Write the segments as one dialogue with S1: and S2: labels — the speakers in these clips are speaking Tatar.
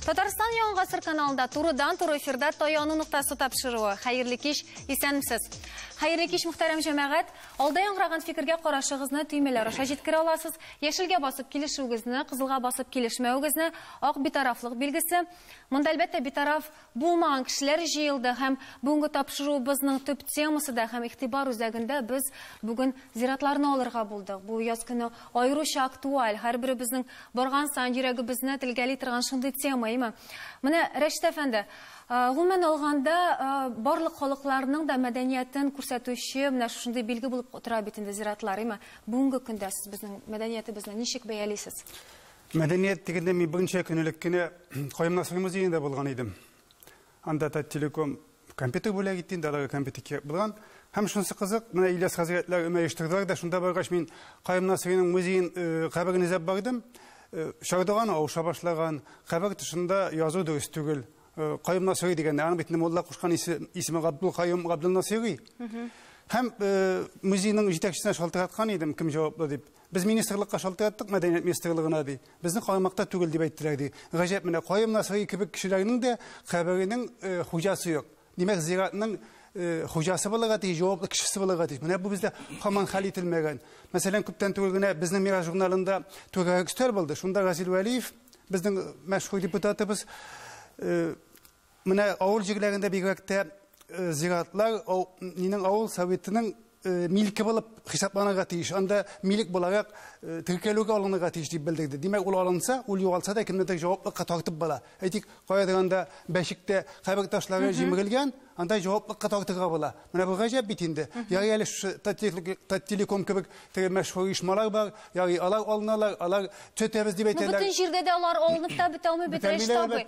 S1: Татарстан яңа гасыр каналында турыдан туры эфирда таяну ноктасы тапшыруы. Хәерле кич, исәнмесез. Хәерле кич, мөхтәрәм җәмәгать. Алда яңгыраган фикергә карашыгызны төймәләр аша җиткерә аласыз. Яшелгә басып килешүегезне, кызылга басып килешмәвегезне, ак битарафлык билгесе. Монда әлбәттә битараф Булмаган кешеләр җыелды һәм бүгенге тапшыруыбызның төп темасы да һәм игътибар үзәгендә без бүген зиратларны алырга булдык. Бу яз көне аеруча актуаль, һәрберебезнең барган саен йөрәгебезне телгәли торган шундый тема, әйме? Менә, Рәшит әфәнде, гомумән алганда, барлык халыкларның да мәдәниятен күрсәтүче менә шушындый билге булып тора бит инде зиратлар, әйме? Бүгенге көндә сез безнең мәдәниятебезне ничек бәялисез? Мәдәният
S2: дигәндә мин бүгенчә көнелек кенә Каемнасый музеенда булган идем. Анда да телеком компьютер бүләк итте, инде аларга компьютер кирәк булган. Һәм шунысы кызык, менә Ильяс хәзрәтләр өмә оештырдылар да, шунда баргач мин Каемнасыйның музеен э, каберен эзләп бардым. Э, Чардуган авыша башлаган, кабер тышында язу дөрес түгел. Э, Каемнасыйри дигәндә, аның битне мулла кушкан исеме Габдул Каем Габдулнасыйри. Һәм музейның җитәкчесенә шалтыраткан идем, кем җаваплы дип. Без министрлыкка шалтыраттык, мәдәният министрлыгына, ди. Безнең карамакта түгел, дип әйттеләр, ди. Гаҗәп, менә Каюм Насыйри кебек кешеләрнең дә каберенең хуҗасы юк. Димәк, зиратның хуҗасы булырга тиеш, җаваплы кешесе булырга тиеш. Менә бу бездә һаман хәл ителмәгән. Мәсәлән, күптән түгел генә безнең Мирас журналында түгәрәк өстәл булды. Шунда Разил Вәлиев, безнең мәшһүр депутатыбыз, Менә авыл җирләрендә бигрәк тә зиратлар минең авыл советының милке булып хисапланырга тиеш. Анда милек буларак теркәлүгә алынырга тиеш дип белдерде. Димәк, ул алынса, ул югалса да кемнедер җаваплылыкка тартып була. Әйтик, каядыр анда бәшектә кабер ташлары җимерелгән, анда җаваплылыкка тартырга була. Менә бу гаҗәп бит инде. Ярый әле шушы Таттелеком кебек теге мәшһүр оешмалар бар, ярый алар алыналар, алар төзәтәбез дип әйтәләр. Бөтен җирдә дә алар алынып
S1: та бетә алмый бит, Рәшит абый.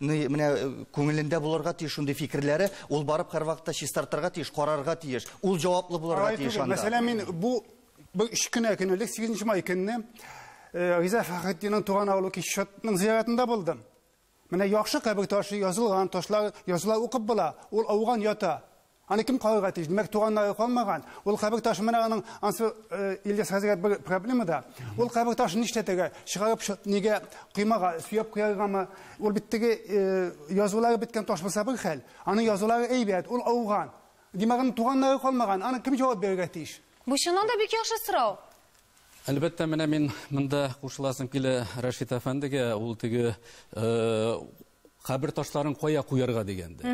S3: ны менә э, күңелендә булырга тиеш шундый фикерләре, ул барып һәрвакытта чистартырга тиеш, карарга тиеш. Ул җаваплы булырга тиеш анда. Мәсәлән, мин бу
S2: бу өч кенә көн элек 8 май көнне э, Риза Фәхретдиннең туган авылы Кишотның зиярәтендә булдым. Менә яхшы кабер ташы язылган, ташлар языла укып була. Ул ауган ята. Аны кем карарга тиеш? Димәк, туганнары калмаган. Ул кабер ташы менә аның ансы Ильяс хәзергә бер проблема да. Ул кабер ташын нишләтергә? Чыгарып нигә кыймага сөяп куяргамы? Ул бит теге язулары беткән таш булса бер хәл. Аның язулары әйбәт, ул ауган. Димәк, аның туганнары калмаган. Аны кем җавап бирергә тиеш? Бу чыннан да бик яхшы
S1: сорау. Әлбәттә,
S4: менә мин монда кушыласым килә Рәшит әфәндегә. Ул теге кабер ташларын кая куярга дигәндә.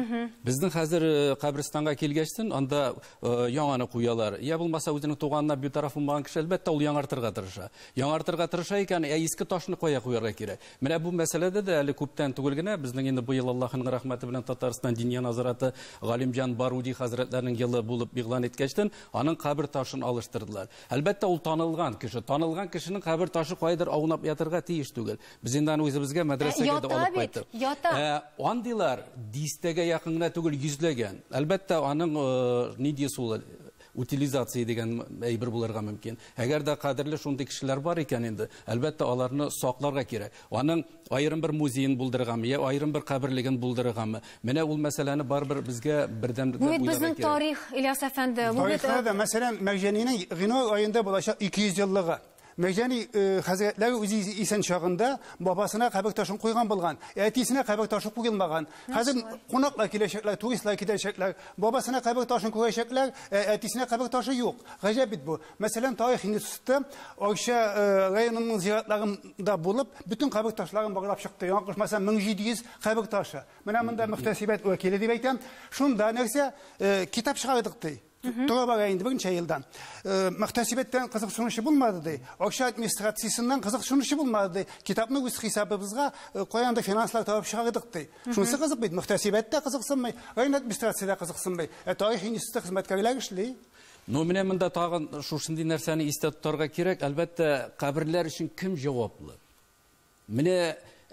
S4: Безнең хәзер э, каберстанга килгәчтен анда э, яңаны куялар. Я булмаса үзенең туганына битараф булмаган кеше әлбәттә ул яңартырга тырыша. Яңартырга тырыша икән, ә иске ташны кая куярга кирәк? Менә бу мәсьәләдә дә әле күптән түгел генә безнең инде быел Аллаһның рәхмәте белән Татарстан Диния назараты Галимҗан Баруди хәзрәтләренең елы булып игълан иткәчтен аның кабер ташын алыштырдылар. Әлбәттә ул танылган кеше, танылган кешенең кабер ташы кайдыр аунап ятырга тиеш түгел. Без инде аны үзебезгә мәдрәсәгә дә алып кайттык. Ята бит, ята. Андыйлар дистәгә якын гына түгел, йөзләгән. Әлбәттә, аның ни дисез ул, утилизация дигән әйбер булырга мөмкин. Әгәр дә кадерле шундый кешеләр бар икән инде, әлбәттә, аларны сакларга кирәк. Аның аерым бер музеен булдырыргамы, я аерым бер каберлеген булдырыргамы? Менә ул мәсьәләне барыбер безгә бердәм итеп уйларга кирәк. Бу бит безнең тарих, Ильяс әфәнде. Тарихта да, мәсәлән,
S2: Мәрҗәнинең гыйнвар аенда булачак 200 еллыгы. Мәрҗани хәзрәтләр үзе исән чагында бабасына кабер ташын куйган булган, әтисенә кабер ташы куелмаган. Хәзер кунаклар киләчәкләр, туристлар китәчәкләр, бабасына кабер ташын күрәчәкләр, ә әтисенә кабер ташы юк. Гаҗәп бит бу. Мәсәлән, тарих институты Арча районының зиратларында булып, бөтен кабер ташларын барлап чыкты. Яңа кушмаса 1700 кабер ташы. Менә монда мөхтәсибәт вәкиле дип әйтәм. Шунда нәрсә, китап чыгардык ди. Тула бара инде берничә елдан. Э, Мөхтәсибәттән кызыксынучы булмады ди. Акча администрациясеннән кызыксынучы булмады ди. Китапны үз хисабыбызга э, каян да финанслар табып чыгардык ди. Шунысы кызык бит, мөхтәсибәт тә кызыксынмый, район администрация дә кызыксынмый. Ә тарих институты хезмәткәрләр эшли. Ну, менә монда
S4: тагын шушындый нәрсәне истә тотарга кирәк. Әлбәттә, каберләр өчен кем җаваплы? Менә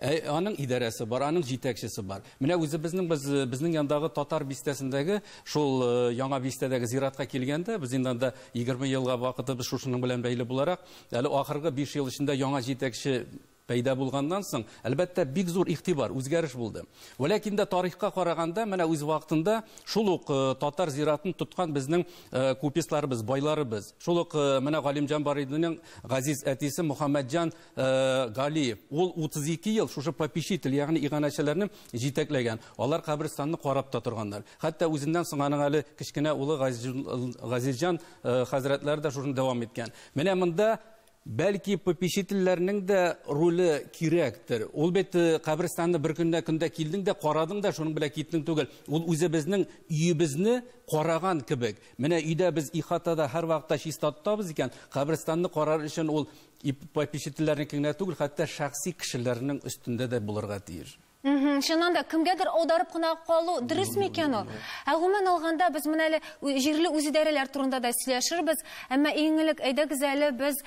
S4: аның идарәсе бар, аның җитәкчесе бар. Менә үзебезнең без безнең яндагы татар бистәсендәге шул э, яңа бистәдәге зиратка килгәндә, без инде анда 20 елга вакытыбыз шушының белән бәйле буларак, әле ахыргы 5 ел эчендә яңа җитәкче пәйда булганнан соң, әлбәттә, бик зур игътибар, үзгәреш булды. Вәләкин дә тарихка караганда, менә үз вакытында шул ук э, татар зиратын тоткан безнең э, купецларыбыз, байларыбыз. Шул ук э, менә Галимҗан Барыйдының газиз әтисе Мөхәммәтҗан Э, Галиев. Ул 32 ел шушы попечитель, ягъни иганәчеләрне җитәкләгән. Алар каберстанны карап та торганнар. Хәтта үзеннән соң аның әле кечкенә улы Газизҗан э, хәзрәтләре дә шуны дәвам иткән. Менә монда Бәлки попечительләрнең дә роле кирәктер. Ул бит э, каберстанны бер көннә көндә килдең дә карадың да шуның белән киттең түгел. Ул үзе безнең өебезне караган кебек. Менә өйдә без ихатада һәрвакытта чиста тотабыз икән, каберстанны карар өчен ул И попечительләрнеке генә түгел, хәтта шәхси кешеләрнең өстендә дә булырга тиеш. Чыннан да,
S1: кемгәдер аударып кына калу дөрес микән ул? Ә гомумән алганда, без менә әле җирле үзидарәләр турында да сөйләшербез, әмма иң элек әйдәгез әле без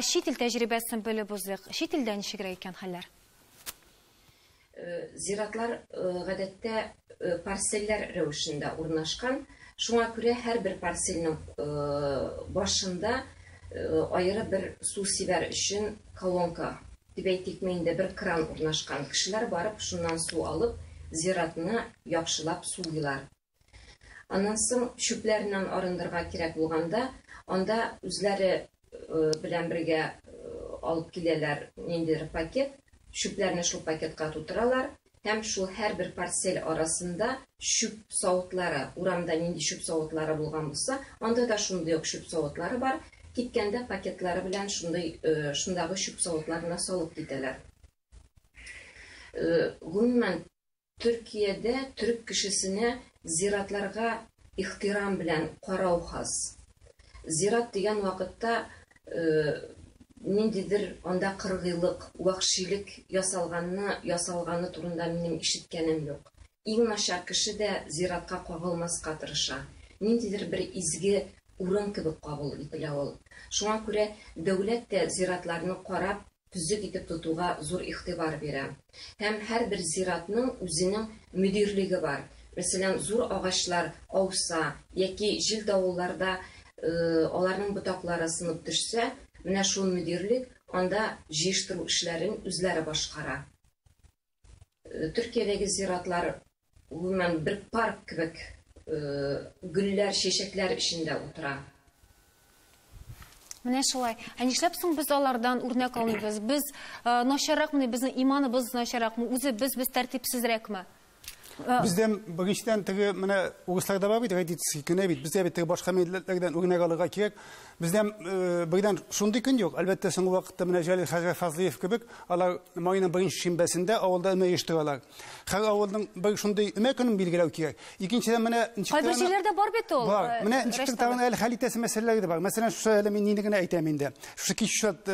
S1: чит ил тәҗрибәсен белеп узыйк. Чит илдә ничегрәк икән хәлләр?
S5: Зиратлар гадәттә парселләр рәвешендә урнашкан, шуңа күрә һәрбер парсельнең башында аеры бер су сибәр өчен колонка, дип әйтикме инде, бер кран урнашкан. Кешеләр барып, шуннан су алып, зиратны яхшылап сулыйлар. Аннан соң чүпләреннән арындырга кирәк булганда, анда үзләре белән бергә алып киләләр ниндидер пакет, чүпләрне шул пакетка тутыралар һәм шул һәрбер парсель арасында чүп савытлары, урамда нинди чүп савытлары булган булса, анда да шундый ук чүп савытлары бар, киткәндә пакетлары белән шундый шундагы чүп савытларына салып китәләр. Гомумән, Төркиядә төрек кешесенә зиратларга ихтирам белән карау хас. Зират дигән вакытта ниндидер анда кыргыйлык, вәхшилек ясалганны, ясалганы турында минем ишеткәнем юк. Иң начар кеше дә зиратка кагылмаска тырыша. Ниндидер бер изге урын кебек кабул ителә ул. Шуңа күрә дәүләт тә зиратларны карап, төзек итеп тотуга зур игътибар бирә. Һәм һәрбер зиратның үзенең мөдирлеге бар. Мәсәлән, зур агачлар ауса яки җил-давылларда аларның ботаклары сынып төшсә, менә шул мөдирлек анда җыештыру эшләрен үзләре башкара. Төркиядәге зиратлар гомумән бер парк кебек гөлләр, чәчәкләр эчендә утыра.
S1: Менә шулай. Ә нишләп соң без алардан үрнәк алмыйбыз? Без начарракмыни, безнең иманыбыз начарракмы? Үзе без без тәртипсезрәкме?
S2: Бездә беренчедән теге менә урысларда бар бит традиция, кенә бит. Бездә бит теге башка милләтләрдән үрнәк алырга кирәк. Бездә быйдан шундый көн юк. Әлбәттә, соңгы вакытта менә Җәлил хәзрәт Фазлиев кебек, алар майның беренче шимбәсендә авылда өмә оештыралар. Һәр авылның бер шундый өмә көнен билгеләү кирәк. Икенчедән, менә ничек Кайбер җирләрдә бар
S1: бит ул. Бар. Менә ничек тагын
S2: әле хәл итәсе мәсьәләләр дә бар. Мәсәлән, шушы әле мин нине генә әйтәм инде. Шушы Кичүшат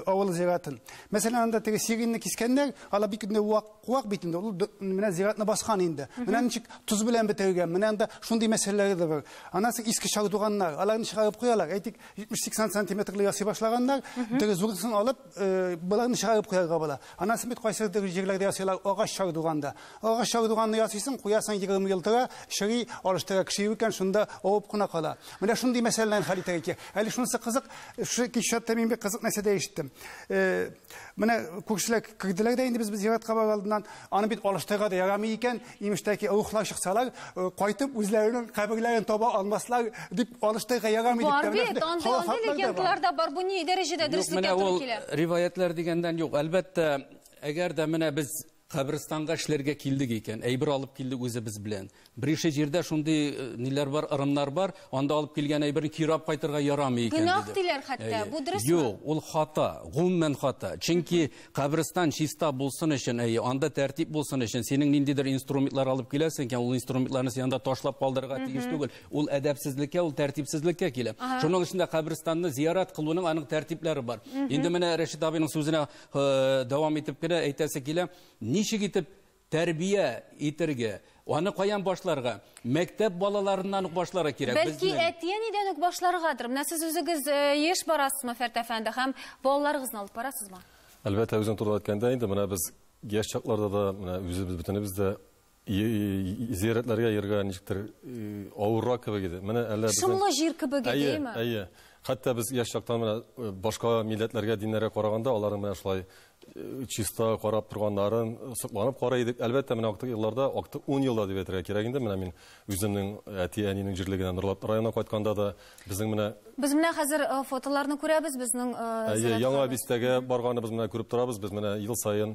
S2: авылы зиратын. Мәсәлән, анда теге сиринны кискәннәр, алар бик нык вак Куак бит инде, ул менә зиратны баскан инде. Менә ничек тоз белән бетергән, менә анда шундый мәсьәләләр дә бар. Аннан соң иске чардуганнар, аларны чыгарып куялар. Әйтик, 70-80 сантиметрлы ясый башлаганнар, теге зурысын алып, э, боларны чыгарып куярга була. Аннан соң бит кайсы җирләрдә ясыйлар агач чардуганда. Агач чардуганны ясыйсың, куясың 20 ел тора, чыри, алыштыра кеше юк икән, шунда авып кына кала. Менә шундый мәсьәләләрне хәл итәргә кирәк. Әле шунысы кызык, шушы кичәттә мин бик кызык нәрсә дә ишеттем. Э, Менә күршеләр кирделәр дә инде без зиратка бар алдыннан. Аны бит алыштырга да ярамый икән. Имештәки рухлар чыксалар, э, кайтып үзләренең каберләрен таба алмаслар дип алыштырга ярамый Бар дип. бит, андый андый легендлар да бар. Бу
S1: ни дәрәҗәдә дөреслеккә туры килә? Риваятлар дигәндән
S4: юк. Әлбәттә, әгәр дә менә без Каберстанга эшләргә килдек икән, әйбер алып килдек үзебез белән. Берише җирдә шундый э, ниләр бар, ырымнар бар, анда алып килгән әйберне кире алып кайтырга ярамый икән диде. Гөнаһ диләр хәтта,
S1: бу дөресме? Юк, ул хата,
S4: гомумән хата. Чөнки каберстан чиста булсын өчен, әйе, анда тәртип булсын өчен, синең ниндидер инструментлар алып киләсең икән, ул инструментларны син анда ташлап калдырырга тиеш түгел. Ул әдәпсезлеккә, ул тәртипсезлеккә килә. Шуның өчен дә каберстанны зиярат кылуның аның тәртипләре бар. Инде менә Рәшит абыйның сүзенә дәвам итеп кенә әйтәсе килә, ничек итеп тәрбия итергә, аны каян башларга? Мәктәп балаларыннан ук башларга кирәк. Бәлки әти-әнидән
S1: үк башларгадыр. Менә сез үзегез еш барасызмы Фәрт
S6: әфәнде
S1: һәм балаларыгызны
S6: алып
S1: барасызмы?
S6: Әлбәттә,
S1: үзең турында
S6: әйткәндә,
S1: инде менә
S6: без яшь чакларда да, менә үзебез бөтенебез дә Зиярәтләргә йөргә ничектер авыррак кебек иде. Менә әллә без Шомлы җир кебек иде, әйеме?
S1: Әйе, әйе. Хәтта
S6: без яшь чактан менә башка милләтләргә, диннәргә караганда, аларның менә шулай чиста карап торганнарын сокланып карый идек. Әлбәттә, менә актык елларда, актык 10 елда дип әйтергә кирәк инде. Менә мин үземнең әти-әнинең җирлегенә Норлат районына кайтканда да безнең менә Без менә хәзер
S1: фотоларны күрәбез, безнең Әйе, Яңа бистәгә
S6: барганыбыз менә күреп торабыз. Без менә ел саен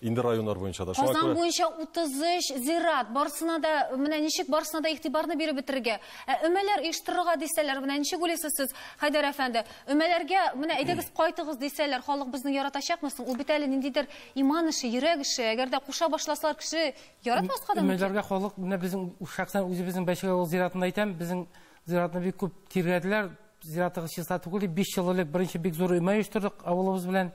S6: Инде районнар буенча да. Казан күрә... буенча 33
S1: зират. Барсына да, менә ничек барсына да игътибарны биреп бетерергә. Ә өмәләр оештырырга дисәләр, менә ничек уйлыйсыз сез, Хайдар әфәнде? Өмәләргә, менә әйдәгез кайтыгыз дисәләр, халык безне яратачакмы соң? Ул бит әле ниндидер иман эше, йөрәк эше. Әгәр дә куша башласалар, кеше яратмаска да мөмкин. Өмәләргә халык, менә безнең
S7: шәхсән үзебезнең Бәйшегә авыл зиратында әйтәм, безнең зиратны бик күп тиргәделәр. Зиратыгыз чиста түгел, 5 ел элек беренче бик зур өмә оештырдык авылыбыз белән.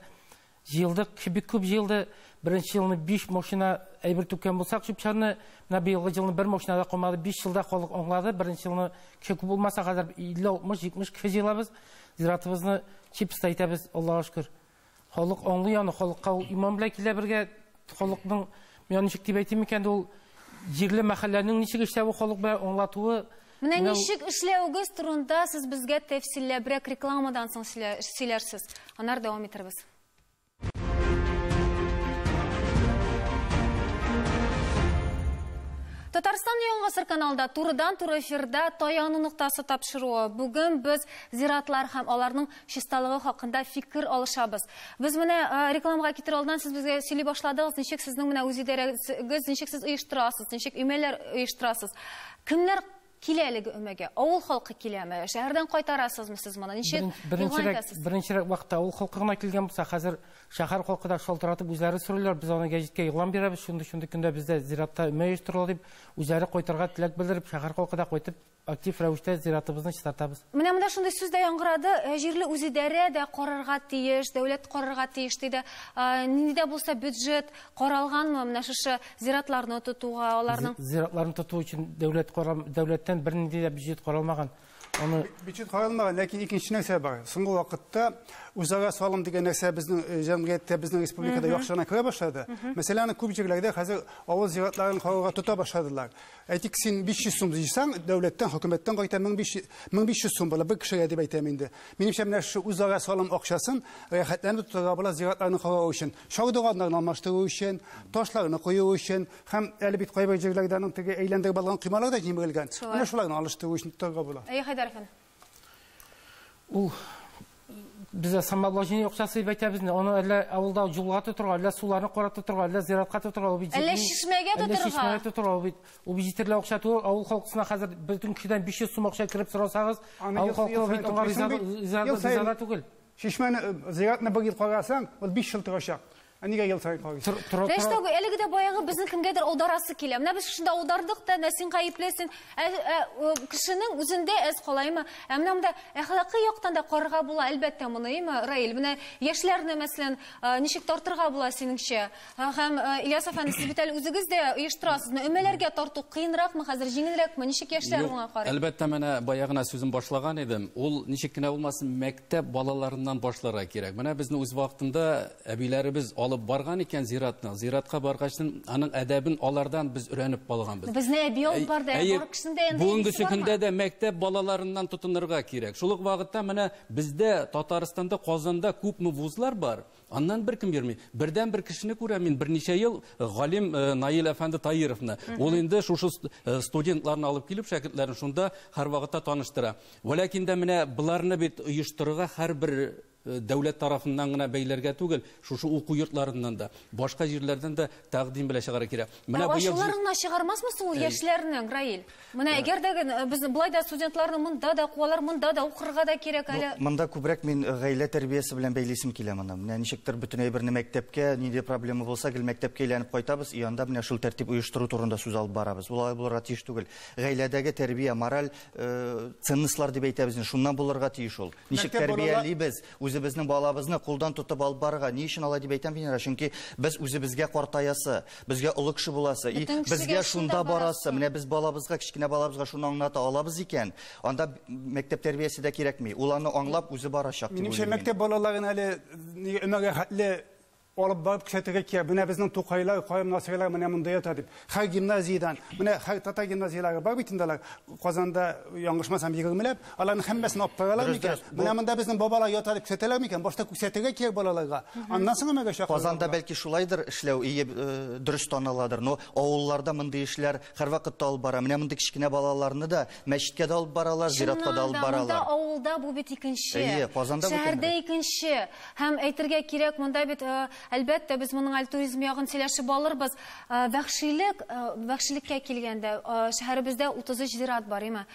S7: Җыелдык, кеше бик күп җыелды. Беренче елны биш машина әйбер түккән булсак, чүп-чарны, менә быелгы җылны бер машина да калмады. Биш елда халык аңлады, беренче елны кеше күп булмаса, хәзер 50-60-70 кеше җыелабыз. Зиратыбызны чиста итәбез, Аллага шөкер. Халык аңлый аны, халыкка ул иман белән килә бергә. Халыкның, миңа ничек дип әйтим икән, ул җирле мәхәлләнең ничек эшләве, халык белән аңлатуы, Менә ничек
S1: эшләвегез турында сез безгә тәфсилләбрәк рекламадан соң сөйләрсез. Анар дәвам итәрбез. Татарстан яңгысыр каналда турыдан туры эфирда таяну ноктасы тапшыруы. Бүген без зиратлар һәм аларның чисталыгы хакында фикер алышабыз. Без менә рекламага китер алдан сез безгә сөйли башладыгыз, ничек сезнең менә үз идарәгез, ничек сез оештырасыз, ничек өймәләр оештырасыз. Кемнәр килә әлеге өмәгә? Авыл халкы киләме? Шәһәрдән кайтарасызмы сез моны? Ничек Беренче- игълан Беренчерәк, итәсез? беренчерәк
S7: вакытта авыл халкы гына килгән булса, хәзер шәһәр халкы да шалтыратып үзләре сорыйлар, без аны гәҗиткә игълан бирәбез, шундый-шундый көндә бездә зиратта өмә оештырыла дип, үзләре кайтырга теләк белдереп, шәһәр халкы да кайтып, актив рәвештә зиратыбызны чистартабыз. Менә монда шундый сүз дә
S1: яңгырады, ә, җирле үзидарә дә карарга тиеш, дәүләт карарга тиеш, диде. А, Нинди дә булса бюджет Каралганмы менә шушы зиратларны тотуга, аларның Зиратларны тоту өчен
S7: дәүләт карам, дәүләттән бернинди дә бюджет каралмаган. Аны Бюджет каралмаган,
S2: ләкин икенче нәрсә бар. Соңгы вакытта үзара салым дигән нәрсә безнең э, җәмгыятьтә, безнең республикада яхшы гына керә башлады. Мәсәлән, аны күп җирләрдә хәзер авыл зиратларын карауга тота башладылар. Әйтик, син 500 сум җыйсаң, дәүләттән, хөкүмәттән кайта 1500 1500 сум була, бер кешегә дип әйтәм инде. Минемчә, менә шушы үзара салым акчасын рәхәтләнеп тотарга була зиратларны карау өчен. Чардуганнарны алмаштыру өчен, ташларны кую өчен һәм әле бит кайбер җирләрдә аның теге әйләндереп алган коймалар да җимерелгән. Менә шуларны алыштыру өчен торырга була. Әйе, Хәйдәр әфәнде.
S7: Ул бездә самообложение акчасы дип әйтәбез инде. Аны әллә авылда юлга тотырга, әллә суларны карап тотырга, әллә зиратка тотырга, ул бит Әллә чишмәгә
S1: тотырга. Әллә чишмәгә тотырга, ул бит. Ул бит җитәрлек
S7: акча түгел. Авыл халкысына хәзер бөтен кешедән 500 сум акча кереп сорасагыз, авыл халкы бит аңа риза түгел. Чишмәне,
S2: зиратны бер ел карасаң, ул 5 ел торачак. Ә нигә ел саен карыйсың? Тәштә әлеге дә
S1: баягы безне кемгәдер алдарасы килә. Менә без шунда алдардык та, менә син гаеплесең. Ә, ә кешенең үзендә әз калаймы? Ә менә монда әхлакый яктан да карарга була, әлбәттә, моны, әйме, Раил? Менә яшьләрне, мәсәлән, ничек тартырга була синеңчә? Һә, һәм э, Ильяс әфәнде, сез бит әле үзегез дә оештырасызны. Өмәләргә тарту кыенракмы хәзер, җиңелрәкме? Ничек яшьләр Юк, моңа карый? Әлбәттә, менә бая гына
S4: сүзен башлаган идем. Ул ничек кенә булмасын, мәктәп балаларыннан башларга кирәк. Менә безне үз вакытында әбиләребез алып барган икән зиратны. Зиратка баргач, аның әдәбен алардан без өйрәнеп калганбыз. Безне әби алып барды,
S1: ә Әйе, бар кешесен дә янында бүгенге әбисе бармы? көндә дә
S4: мәктәп балаларыннан тотынырга кирәк. Шул ук вакытта менә бездә Татарстанда, Казанда күпме вузлар бар. Аннан беркем йөрми. Бердән бер кешене күрәм мин берничә ел э, галим э, Наил әфәнде Таировны. Ул инде шушы э, студентларны алып килеп шәкертләрен шунда һәрвакытта таныштыра. Вәләкин дә менә боларны бит оештырырга һәрбер дәүләт тарафыннан гына бәйләргә түгел, шушы уку йортларыннан да, башка җирләрдән дә тәкъдим белән чыгарга кирәк. Менә быел
S1: чыгармасмы соң ул яшьләрне, Раил? Менә әгәр дә без болай да студентларны монда да куалар, монда да укырга да кирәк әле. Монда күбрәк мин э,
S3: гаилә тәрбиясе белән бәйлисем килә моны. Менә ничектер бөтен әйберне мәктәпкә, нинди проблема булса, гел мәктәпкә әйләнеп кайтабыз, и анда менә шул тәртип оештыру турында сүз алып барабыз. Ул алай булырга тиеш түгел. Гаиләдәге тәрбия, мораль э, ценностьлар дип әйтәбез, шуннан булырга тиеш ул. Ничек тәрбиялибез, Үзебезнең балабызны кулдан тотып алып барырга ни өчен алай дип әйтәм, Венера, чөнки без үзебезгә картаясы, безгә олы кеше буласы, и, безгә шунда барасы, менә без балабызга, кечкенә балабызга шуны аңлата алабыз икән, анда мәктәп тәрбиясе дә кирәкми, ул аны аңлап үзе барачак дип уйлыйм. Минемчә, мәктәп балаларын
S2: әле өмәгә хәтле Алып барып күрсәтергә кирәк, менә безнең Тукайлар, Каем насыйрлар менә монда ята дип. Һәр гимназиядән, менә һәр татар гимназияләре бар бит инде алар, Казанда, яңгышмасам, егермеләп. Аларның һәммәсен алып каралар микән? Менә монда безнең бабалар ята дип күрсәтәләр микән? Башта күрсәтергә кирәк балаларга, аннан соң өмәгә чакырырга була. Казанда бәлки шулайдыр
S3: эшләү, ие, дөрес таныладыр, но авылларда мондый эшләр һәрвакытта алып бара. Менә мондый кечкенә балаларны да мәчеткә дә алып баралар, зиратка да алып баралар. Чыннан да, монда, авылда бу бит
S1: икенче. Әйе, Казанда бу тәңре. Шәһәрдә икенче. Һәм әйтергә кирәк, монда бит, э, әлбәттә, без моның әле туризм ягын сөйләшеп алырбыз. Э, вәхшилек, э, вәхшилеккә килгәндә, шәһәребездә 33 зират бар, име?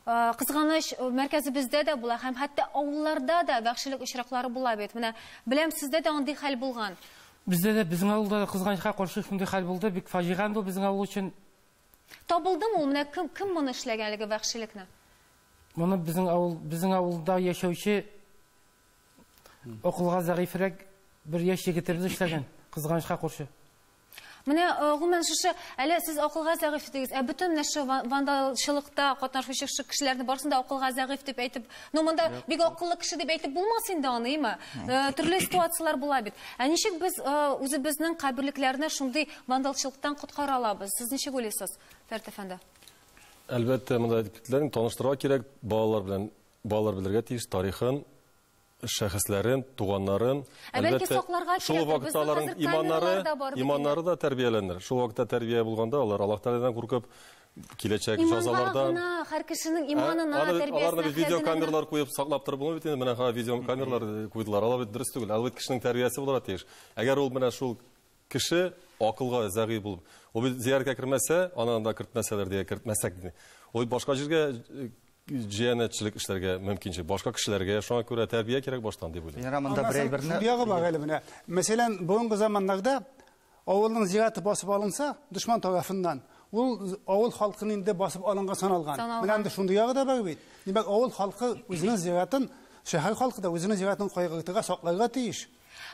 S1: Э, кызганыч э, мәркәзебездә дә була һәм хәтта авылларда да вәхшилек очраклары була бит менә беләм сездә дә андый хәл булган бездә дә безнең
S7: авылда да кызганычка каршы шундый хәл булды бик фаҗига бу безнең авыл өчен табылдымы
S1: ул менә кем кем моны эшләгән әлеге вәхшилекне моны
S7: безнең авыл безнең авылда яшәүче Акылга зәгыйфрәк бер яшь егет роль эшләгән, кызганычка куршы. Менә
S1: э, гомумән шушы әле сез акылга зәгыйфь дидегез, ә бөтен менә шушы вандалчылыкта катнашучы шушы кешеләрне барысын да акылга зәгыйфь дип әйтеп, ну монда бик акыллы кеше дип әйтеп булмас инде аны, имә. Э, төрле ситуацияләр була бит. Ә ничек без э, үзебезнең каберлекләрне шундый вандалчылыктан коткара алабыз? Сез ничек уйлыйсыз, Фәрт әфәнде? Әлбәттә,
S6: монда әдипләрне таныштырырга кирәк балалар белән. Балалар белергә тиеш тарихын, шәхесләрен, туганнарын. Ә бәлки сакларга
S1: кирәк. Шул вакытта
S6: аларның иманнары, иманнары да тәрбияләнер. Шул вакытта тәрбия булганда алар Аллаһ Тәгаләдән куркып, киләчәк җазалардан. Иманга гына, һәр кешенең
S1: иманына, тәрбиясенә. Аларны бит видеокамерлар
S6: куеп саклап торып булмый бит инде. Менә видеокамерлар куйдылар. Алар бит дөрес түгел. Алар бит кешенең тәрбиясе булырга тиеш. Әгәр ул менә шул Кеше акылга зәгыйфь булып, ул бит зияраткә кермәсә, аны анда кертмәсәләр дигән кертмәсәк ди. Ул башка җиргә җиянәтчелек эшләргә мөмкинче. Башка кешеләргә шуңа күрә тәрбия кирәк баштан дип уйлыйм. Ярар, монда берәй берне. Шул ягы
S3: бар әле менә.
S2: Мәсәлән, бүгенге заманнарда авылның зираты басып алынса, дошман тарафыннан, ул авыл халкын инде басып алынга саналган. Менә инде шундый ягы да бар бит. Димәк, авыл халкы үзенең зиратын, шәһәр халкы да үзенең зиратын кайгыртырга, сакларга тиеш.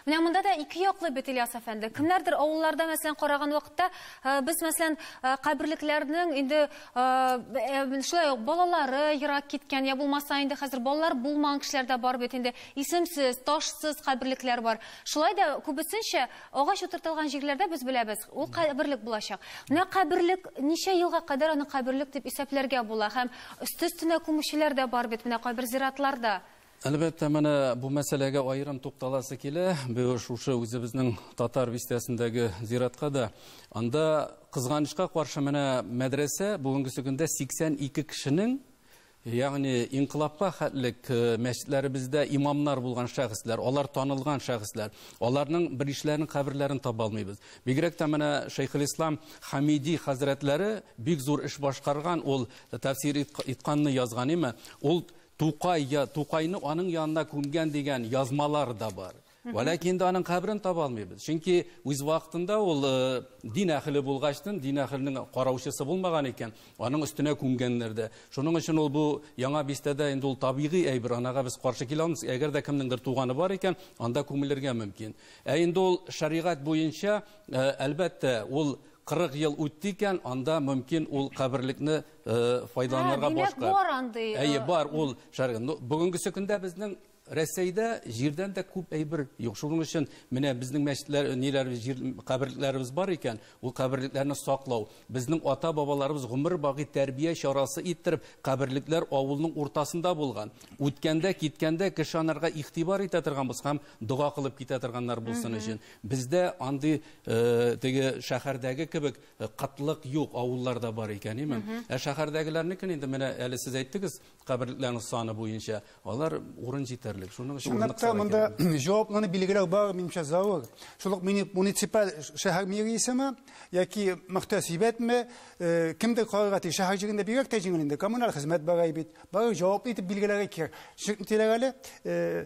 S2: Менә монда да
S1: ике яклы бит Ильяс әфәнде. Кемнәрдер авылларда мәсәлән караган вакытта э, без мәсәлән э, каберлекләрнең инде э, шулай ук балалары ерак киткән я булмаса инде хәзер балалар булмаган кешеләр дә бар бит инде. Исемсез, ташсыз каберлекләр бар. Шулай да күбесенчә агач утыртылган җирләрдә без беләбез, ул каберлек булачак. Менә каберлек ничә елга кадәр аны каберлек дип исәпләргә була һәм өсте-өстенә күмүчеләр дә бар бит менә кайбер зиратларда. Әлбәттә, менә
S4: бу мәсьәләгә аерым тукталасы килә. Бу шушы үзебезнең татар бистәсендәге зиратка да. Анда кызганычка каршы менә мәдрәсә бүгенгесе көндә 82 кешенең, ягъни инкылапка хәтлек э, мәчетләребездә имамнар булган шәхесләр, алар танылган шәхесләр, аларның беришләренең каберләрен таба алмыйбыз. Бигрәк тә менә Шәйхелислам Хамиди хәзрәтләре бик зур эш башкарган, ул тәфсир итканны язган име, ул Тукай я Тукайны аның янына күмгән дигән язмалар да бар. Вә ләкин инде аның каберен таба алмыйбыз. Чөнки үз вакытында ул э, дин әхеле булгачтын, дин әхеленең караучысы булмаган икән, аның өстенә күмгәннәр дә. Шуның өчен ул бу яңа бистәдә инде ул табигый әйбер, анага без каршы килә алмыйбыз. Әгәр дә кемнеңдер туганы бар икән, анда күмелергә мөмкин. Ә инде ул шәригать буенча, э, әлбәттә, ул 40 ел үтте икән, анда мөмкин ул каберлекне файдаланырга башка. Димәк, бар андый. Әйе, бар ул шәргә. Бүгенге көндә безнең Рәсәйдә җирдән дә күп әйбер юк. Шуның өчен менә безнең мәчетләр, ниләр, җир каберлекләребез бар икән, ул каберлекләрне саклау. Безнең ата-бабаларыбыз гомер баги тәрбия чарасы иттереп, каберлекләр авылның уртасында булган. Үткәндә, киткәндә кеше анарга игътибар итә торган булса һәм дога кылып китә торганнар булсын өчен. Бездә андый теге шәһәрдәге кебек Э, кытлык юк, авылларда бар икән, име? Ә шәһәрдәгеләрнекен инде менә әле сез әйттегез, каберлекләрнең саны буенча, алар урын җитәрлек. Шуның өчен урын Чынлыкта монда
S2: җаваплыны билгеләү бар, минемчә, заур. Шул ук муниципаль шәһәр мэриясеме яки мөхтәсибәтме, э, кемдер карарга тиеш. Шәһәр җирендә бигрәк тә җиңел инде, коммуналь хезмәт бар бит. Бары җаваплы итеп билгеләргә кирәк. Чөнки әле э,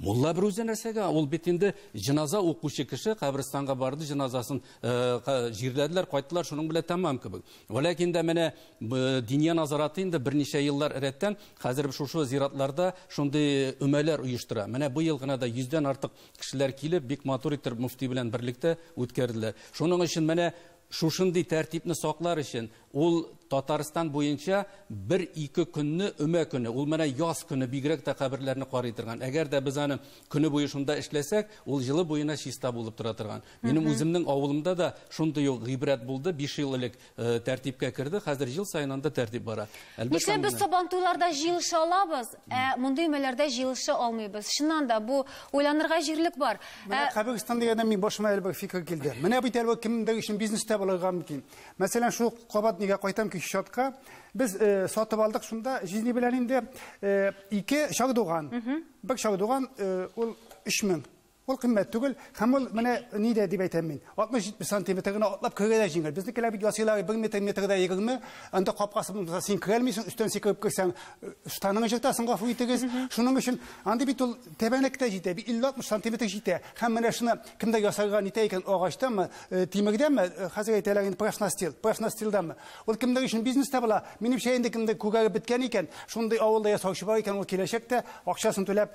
S4: Мулла бер үзе нәрсәгә? Ул бит инде җеназа укучы кеше, каберстанга барды, җеназасын э, җирләделәр, кайттылар, шуның белән тәмам кебек. Вәләкин дә менә Диния назараты инде берничә еллар рәттән хәзер шушы зиратларда шундый өмәләр оештыра. Менә бу ел гына да йөздән артык кешеләр килеп, бик матур итеп мөфти белән берлектә үткәрделәр. Шуның өчен менә Шушындый тәртипне саклар өчен, ул Татарстан буенча бер-ике көнне өмә көне, ул менә яз көне бигрәк тә каберләрне карый торган. Әгәр дә без аны көне буе шунда эшләсәк, ул җылы буена чиста булып тора торган. Минем үземнең авылымда да шундый ук гыйбрәт булды, биш ел элек тәртипкә керде, хәзер ел саен анда тәртип бара. Әлбәттә, аны. Нишләп без
S1: Сабантуйларда җыелыша алабыз? Ә мондый өмәләрдә җыелыша алмыйбыз. Чыннан да, бу уйланырга җирлек бар. Менә ә, Кабегстан дигәндә
S2: мин башыма әле бер фикер килде. Менә бит әле кемдер өчен бизнеста булырга мөмкин. Мәсәлән, шул кабат нигә кайтам ки счетка. Без э, сатып алдык шунда җизни белән инде э, ике чардуган. Бер чардуган э, ул 3000. Ул кыйммәт түгел, һәм ул менә ни дә дип әйтәм мин. 60-70 сантиметр гына атлап керергә дә җиңел. Безнекеләр бит ясыйлар 1 метр, метр дә 20. Анда капкасы булмаса, син керә алмыйсың, өстән сикереп керсәң, штаныңны җыртасың, гафу итегез. Шуның өчен андый бит ул тәбәнәк тә җитә, 50-60 сантиметр җитә. Һәм менә шуны кемдә ясарга нитә икән, агачтанмы, тимердәнме, хәзер әйтәләр инде профнастил, профнастилданмы. Ул кемнәр өчен бизнес тә була. Минемчә, инде кемдер күгәреп беткән икән, шундый авылда ясаучы бар икән, ул киләчәктә акчасын түләп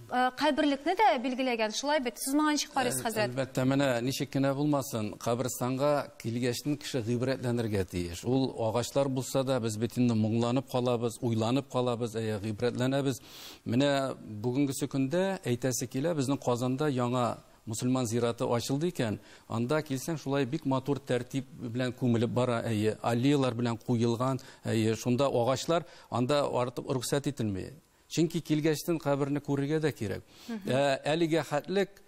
S1: Э, каберлекне дә билгеләгән, шулай бит? Сез моңа ничек карыйсыз, хәзрәт? Әлбәттә, менә ничек
S4: кенә булмасын, каберстанга килгәчтен кеше гыйбрәтләнергә тиеш. Ул агачлар булса да, без бит инде моңланып калабыз, уйланып калабыз, әйе, гыйбрәтләнәбез. Менә бүгенгесе көндә әйтәсе килә, безнең Казанда яңа мусульман зираты ачылды икән, анда килсәң, шулай бик матур тәртип белән күмелеп бара, әйе, аллеялар белән куелган, әйе, шунда агачлар, анда артып рөхсәт ителми. Чөнки килгәчтен каберне күрергә дә кирәк. Ә әлегә хәтлек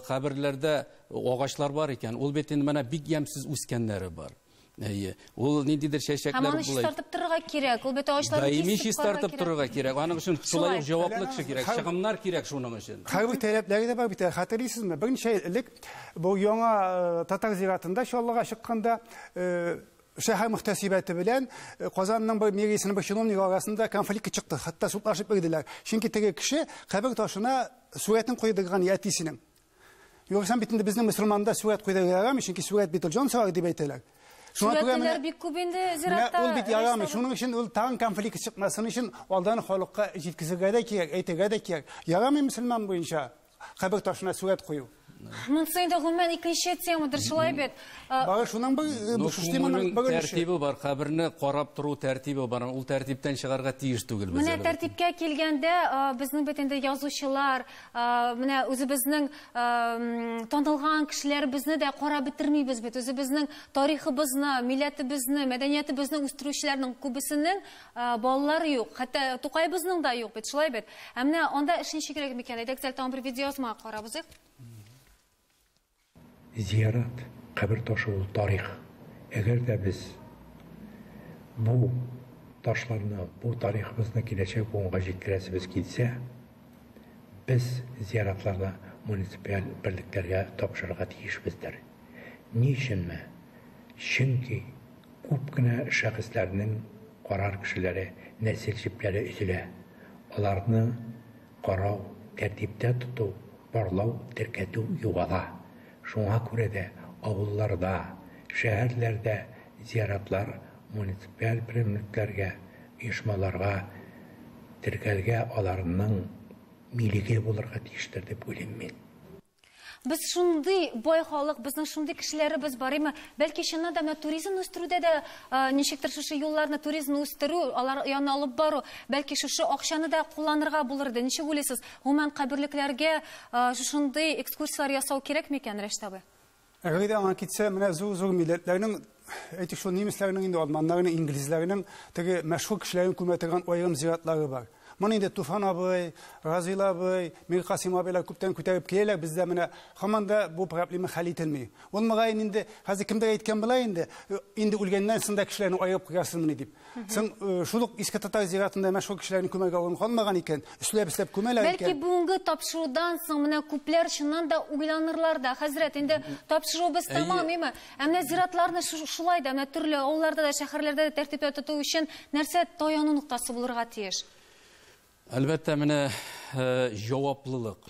S4: каберләрдә агачлар бар икән, ул бит инде менә бик ямьсез үскәннәре бар. Әйе. Ул ниндидер чәчәкләр булай. Һәм аны чистартып торырга
S1: кирәк. Ул бит агачларны кисеп Даими чистартып
S4: торырга кирәк. Аның өчен шулай ук җаваплы кеше кирәк, чыгымнар кирәк шуның өчен. Хәвеф таләпләре дә бар
S2: бит. Хәтерлисезме, берничә ел элек бу яңа татар зиратында Чаллыга чыкканда шәһәр мөхтәсибәте белән э, Казанның бер мэриясенең бер чиновнигы арасында конфликт чыкты. Хәтта судлашып бирделәр. Чөнки теге кеше кабер ташына сурәтен куйдырган әтисенең. Югыйсә бит инде безнең мусульманда сурәт куйдырырга ярамый, чөнки сурәт бит ул җан сарар дип әйтәләр. Сурәтлеләр
S1: бик күп инде зиратта. Ул бит ярамый. Шуның
S2: өчен ул тагын конфликт чыкмасын өчен алдан халыкка җиткезергә дә кирәк, әйтергә дә кирәк. Ярамый мусульман буенча. Кабер ташына сурәт кую. Монысы инде
S1: гомумән икенче темадыр, шулай бит. Бары шуның
S2: бер ну, теманың бер тәртибе бар, каберне
S4: карап тору тәртибе бар. Ул тәртиптән чыгарга тиеш түгел без. Менә тәртипкә
S1: килгәндә, безнең бит инде язучылар, менә үзебезнең танылган кешеләребезне дә карап бетермибез бит. Үзебезнең тарихыбызны, милләтебезне, мәдәниятебезне үстерүчеләрнең күбесенең Балалар юк, хәтта Тукайбызның да юк бит, шулай бит. Ә менә анда эш ничегрәк микән? Әйдәгез әле тагын бер видеоязмага карап узыйк.
S8: Зиярат, кабер ташы ул тарих. Әгәр дә без бу ташларны, бу тарихыбызны киләчәк буынга җиткерәсебез килсә, без зияратларны муниципаль берлекләргә тапшырырга тиешбездер. Ни өченме? Чөнки Күп кенә шәхесләрнең карар кешеләре нәсел җепләре өзелә. Аларны карау, тәртиптә тоту, барлау, теркәтү югала. Шуңа күрә дә авылларда, шәһәрләрдә зиратлар муниципаль берәмлекләргә, оешмаларга теркәлгә, аларның милеге булырга тиештер дип уйлыйм мин. Без
S1: шундый бай халык, безнең шундый кешеләребез бар име? Бәлки чыннан да менә туризмны үстерүдә дә ничектер шушы юлларны, туризмны үстерү, алар янына алып бару, бәлки шушы акчаны да кулланырга булыр иде. Ничек уйлыйсыз, гомумән каберлекләргә шушындый экскурсияләр ясау кирәкме икән, Рәшит абый? Әгәр дә аңа
S2: китсә, менә зур-зур милләтләрнең, әйтик шул немецләрнең инде, алманнарның, инглизләрнең теге мәшһүр кешеләрен күмә торган аерым зиратлары бар. Моны инде Туфан абый, Разил абый, Миркасыйм абыйлар күптән күтәреп киләләр, бездә менә һаман да бу проблема хәл ителми. Ул мөгаен инде хәзер кемдер әйткән була инде, инде үлгәннән соң да кешеләрне аерып куярсызмыни дип. Соң шул ук иске татар зиратында мәшһүр кешеләрнең күмәргә урын калмаган икән, өсләп-өсләп күмәләр икән. Бәлки бүгенге тапшырудан
S1: соң менә күпләр чыннан да уйланырлар да, хәзрәт, инде тапшыруыбыз тәмамыймы? Ә менә зиратларны шулай да, менә төрле авылларда да, шәһәрләрдә дә тәртиптә тоту өчен нәрсә таяну ноктасы булырга тиеш?
S4: Әлбәттә, менә җаваплылык.